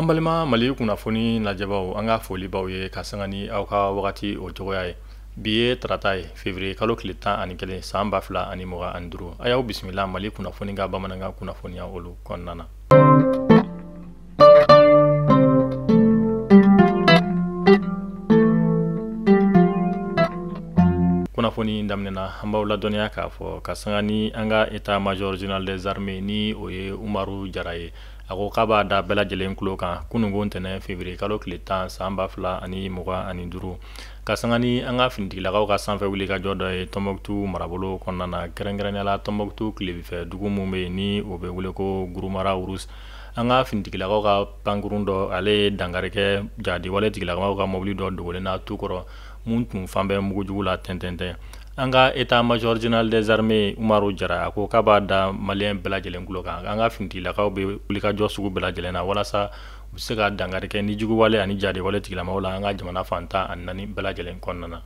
an balima mali kunnafoni lajɛbaaw an ka foli b'aw ye ka sanga ni aw ka wagati o cogoya ye bi ye tarata ye fevriye kalo tile tan ani kelen san ba fila ani mugan ani duuru a y'aw bisimila mali kunnafoni ka bamanankan kunnafoniya olu kɔnɔna na kunnafoni daminɛ na an b'aw ladɔnniya k'a fɔ ka sanga ni an ka état major général des armées ni o ye umaru jara ye a ko k'a b'a da bɛɛ lajɛlen tulo kan kununko ntɛnɛn fevriye kalo tile tan san ba fila ani mugan ani duuru ka sanga ni an ka finitigilakaw ka sanfɛ wulikajɔ dɔ ye tɔnbɔkutu marabolo kɔnɔna na kɛrɛnkɛrɛnnenya la tɔnbɔkutu tilebin fɛ dugu min bɛ yen ni o bɛ wele ko guruma rarus an ka finitigilakaw ka pankurun dɔ ale ye dankari kɛ jadiwale tigilamaw ka mobili dɔ dogolen na tu kɔrɔ mun tun falen bɛ mugujugu la tɛntɛntɛn an ka état major général des armées umaru jara a ko k'a b'a da maliyɛn bɛɛ lajɛlen tulo kan an ka finitigilakaw bɛ wulikajɔ sugu bɛɛ lajɛlen na walasa u bɛ se ka dankari kɛ ni juguwale ani jadiwale tigilamaw la an ka jamana fan tan ani naani bɛɛ lajɛlen kɔnɔna na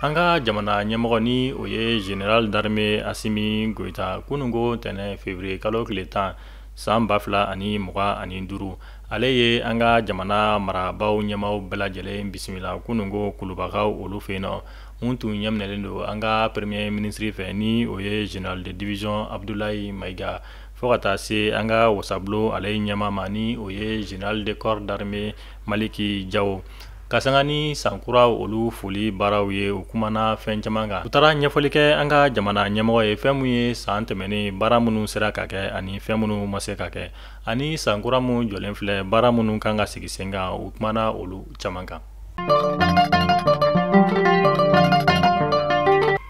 An ka jamana ɲɛmɔgɔ ni o ye général d'armée asimi goïta kununko ntɛnɛn février kalo tile tan san ba fila ani mugan ani duuru ale ye an ka jamana marabaw ɲɛmaw bɛɛ lajɛlen bisimila kununko kulubakaw olu fɛ yen nɔ mun tun ɲɛminɛlen don an ka premier ministre fɛ ni o ye général de division abudulayi mayiga fo ka taa se an ka wasabulon ale ɲɛma ma ni o ye général de corps d'armée maliki jawo ka sanga ni sankura olu foli baaraw ye u kumana fɛn caman kan u taara ɲɛfɔli kɛ an ka jamana ɲɛmɔgɔ ye fɛn mun ye san tɛmɛnen baara minnu sera ka kɛ ani fɛn minnu ma se ka kɛ ani sankura mun jɔlen filɛ baara minnu kan ka sigi sen kan u kumana olu caman kan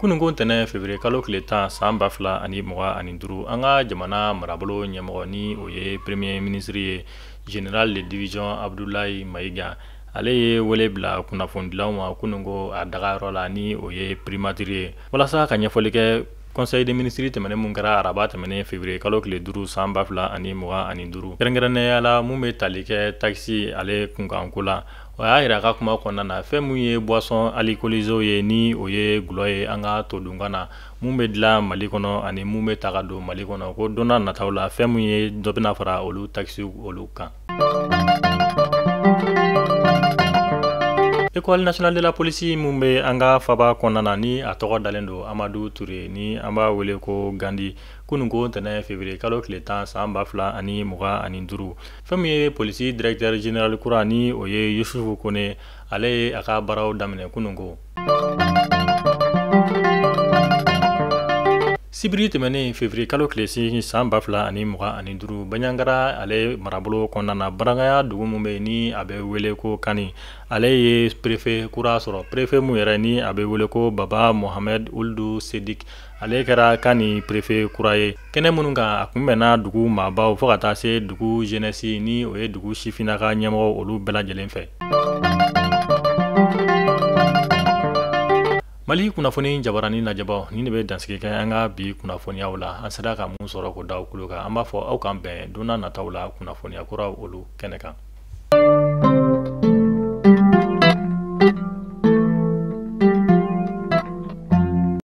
kununko ntɛnɛn février kalo tile tan san ba fila ani mugan ani duuru an ka jamana marabolo ɲɛmɔgɔ ni o ye premier ministre ye général de division abudulayi mayiga ale ye wele bila kunnafonidilaw ma kununko a dagayɔrɔ la ni o ye primatiri ye walasa ka ɲɛfɔli kɛ Conseil des ministres tɛmɛnen mun kɛra araba tɛmɛnen février kalo tile duuru san ba fila ani mugan ani duuru kɛrɛnkɛrɛnnenya la mun bɛ tali kɛ takisi ale kunkanko la o y'a yira a ka kuma kɔnɔna na fɛn min ye boisson alcoolisée ye ni o ye gulɔ ye an ka todunkan na mun bɛ dilan mali kɔnɔ ani mun bɛ ta ka don mali kɔnɔ ko don na nataw la fɛn min ye dɔ bɛna fara olu takisiw olu kan école nationale de la police mun bɛ an ka faba kɔnɔna na ni a tɔgɔ dalen don amadu ture ni an b'a wele ko gandi kunun ko ntɛnɛn fevrier kalo tile tan san ba fila ani mugan ani duuru fɛn min ye polisi directeur general kura ni o ye yusufu kone ale ye a ka baaraw daminɛ kunun ko sibiri tɛmɛnen fevrier kalo tile seegin san ba fila ani mugan ani duuru banjagara ale marabolo kɔnɔna na barangaya dugu min bɛ ni a bɛ wele ko kani ale ye prefe kura sɔrɔ prefe min yɛrɛ ni a bɛ wele ko baba mohamɛd uludu sedik ale kɛra kani prefe kura ye kɛnɛ minnu kan a kunbɛnna dugu maabaw fo ka taa se dugu zenɛsi ni o ye dugu sifinna ka ɲɛmɔgɔ olu bɛɛ lajɛlen fɛ mali kunnafoni jabarani lajɛbaw ni ne bɛ dansigi kɛ an ka bi kunnafoniyaw la an sera ka mun sɔrɔ k'o da aw kulo kan an b'a fɔ aw k'an bɛn donna nataw la kunnafoniya kuraw olu kɛnɛ kan